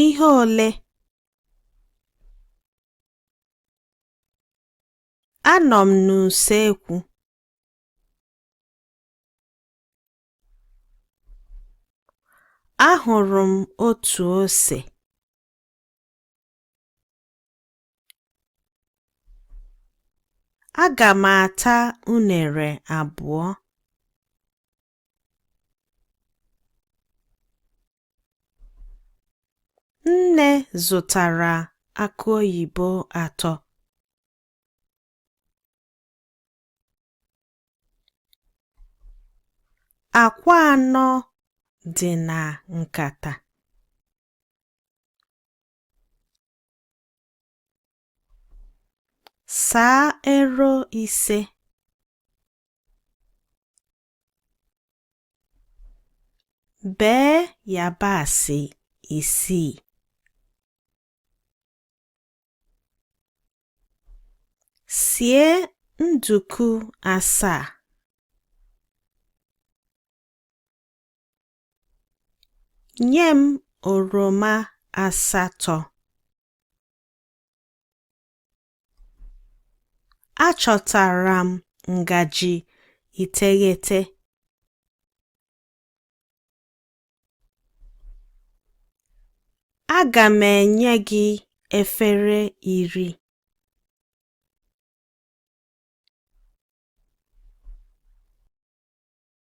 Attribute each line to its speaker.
Speaker 1: Ihe ole? Anọ m n'usekwu. Ahụrụ m otu ose. Aga m ata unere abụọ. Nne zụtara akụ oyibo atọ. Akwa anọ dị na nkata. Saa ero ise. Bee yabasị isii. Sie nduku asaa. Nye m oroma asatọ. Achọtara m ngaji iteghete. Aga m enye gị efere iri.